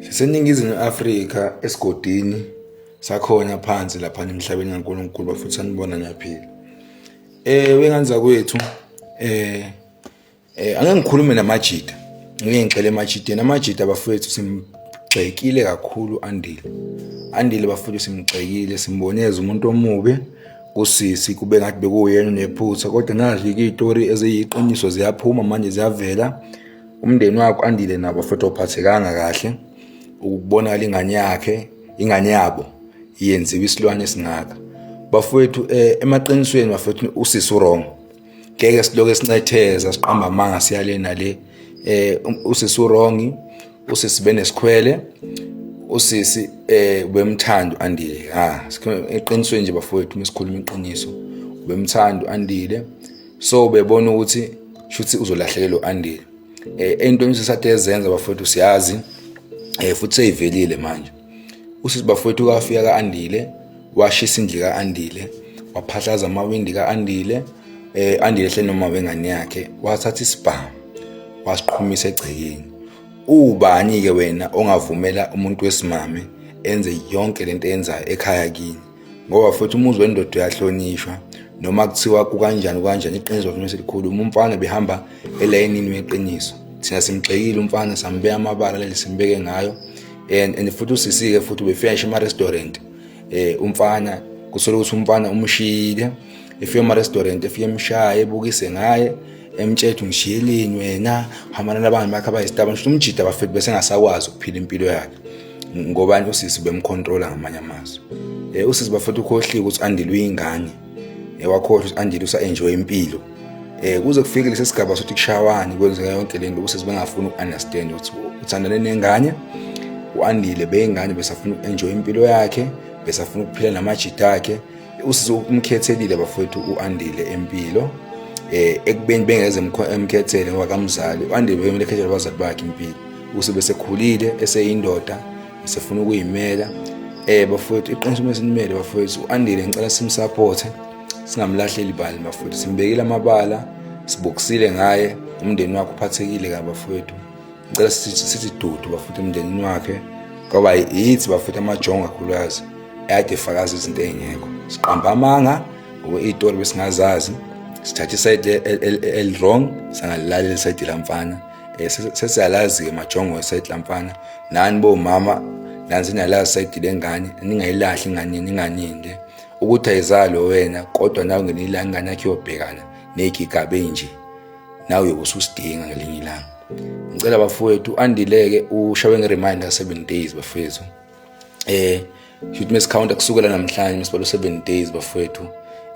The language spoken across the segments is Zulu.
siseningizimu afrika esigodini sakhona phansi lapha emhlabeni kaNkulunkulu bafuthi sanibona ngiyaphila eh wenganza kwethu eh eh angeke ngikhulume namajita ngeke ngixele emajiteni amajita bafethu simgxekile kakhulu andile andile bafethu simgxekile simboneza umuntu omubi kusisi kube ngathi bekuyena nephutha kodwa nazi itori eziyiqiniso ziyaphuma manje ziyavela umndeni wakho andile nabo futhi ophathekanga kahle ukubonakala ingane yakhe ingane yabo yenziwa isilwane esingaka bafowethu eh, emaqinisweni bafowethu usisi wrong ngeke siloke sincetheza siqamba amanga siyale nale eh um, usisi wrong usisi benesikhwele usisi eh ubemthanda andile ha eqinisweni nje bafowethu mesikhuluma iqiniso ubemthanda andile so bebona ukuthi shuthi uzolahlekelwa u-andile um eh, ey'ntweni sesathe ezenza bafowethu siyazi um futhi seyivelile manje usisi bafowethu kafika ka-andile washisa indlu ka-andile waphahlaza amawindi ka-andile um andile hle noma wengane yakhe wathatha isibhamu wasiqhumisa egcekeni ubani-ke wena ongavumela umuntu wesimame enze yonke lento eyenzayo ekhaya kini ngoba futhi umuzi wendoda uyahlonishwa noma kuthiwa kukanjani kukanjani iqiniso lafuna selikhulu uma umfana behamba elayinini weqiniso thina simgxekile umfana sambeka amabala leli simbeke ngayo and and futhi usisike futhi ubefika ngisho ema-restaurant eh umfana kusole ukuthi umfana umshiyile efika ema-restaurant efike emshaye ebukise ngaye emtshetha ungishiyeleni wena hambana nabangani bakhe abayisitaba ngisho umjida bafethu besengasakwazi ukuphila impilo yakhe ngobani usisi bemkhontrola ngamanye amazwi eh usisi bafethu ukhohliwe ukuthi andile uyingane eh wakhohlwa ukuthi andile usa enjoy impilo eh kuze kufike lesi sigaba sokuthi kushawani kwenzeka yonke le nto usisi bengafuni ukunderstand ukuthi uthandane nengane uandile beyingane besafuna uenjoy impilo yakhe besafuna ukuphila namajita akhe usizo umkhethelile bafowethu u-andile empilo um eh, ekubeni bengeze emkhethele ngoba kamzali u-andile beyomele ekhethele abazali bakhe impilo usebe sekhulile eseyindoda esefuna ukuyimela um bafowethu iqiniso uma sinimele bafowethu u-andile ngicela simsaphothe singamlahleli bani bafowethu simbekile amabala sibokisile ngaye umndeni wakhe uphathekile kabafowethu ngicela sithi dudu bafutha emndenini wakhe ngoba yithi bafutha amajongo kakhulukazi ade fakazi izinto ey'ngekho siqamba amanga ngoba iy'tori besingazazi sithatha isayidi elirong sangalilalela isayidi lamfana um sesiyalazi-ke majongo esayidi lamfana nani bomama nani seniyalazi isayidi lengane ningayilahli ingane ninganinde ukuthi ayizalo wena kodwa nawe ngeniyilani ingane yakhe yobhekana ney'gigaba ey'nje nawe uyobe ususidinga ngelinye ilanga ngicela bafowethu andileke ushawe nge-reminder 7 days bafowethu eh shoot mase counter kusukela namhlanje masibalo 7 days bafowethu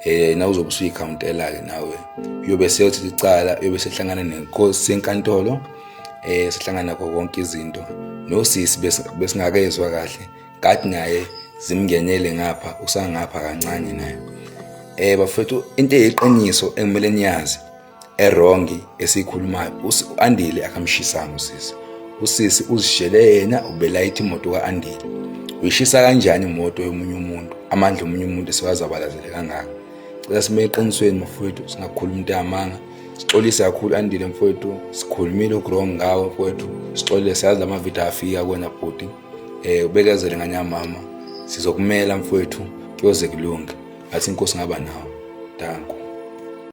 eh na uzobe usuyikhawuntela ke nawe uyobe seyothi icala uyobe sehlangana nenkosi senkantolo eh sihlangana konke izinto nosisi besingakezwa kahle kati naye zimngenele ngapha usangapha kancane naye eh bafethu into eyiqiniso engimele niyazi erongi esikhulumayo uAndile akamshisanga usisi usisi uzishele yena ubelayitha imoto kaAndile uyishisa kanjani imoto yomunye umuntu amandla omunye umuntu siwazabalazele kangaka cela sibe eqinisweni mfowethu singakhuluma into yamanga sixolise kakhulu andile mfowethu sikhulumile ugrong ngawo mfowethu sixolile siyazi lamavidiyo afika kwena bhuti eh ubekezele nganya mama sizokumela mfowethu kuyoze kulunge athi inkosi ngaba nawe danko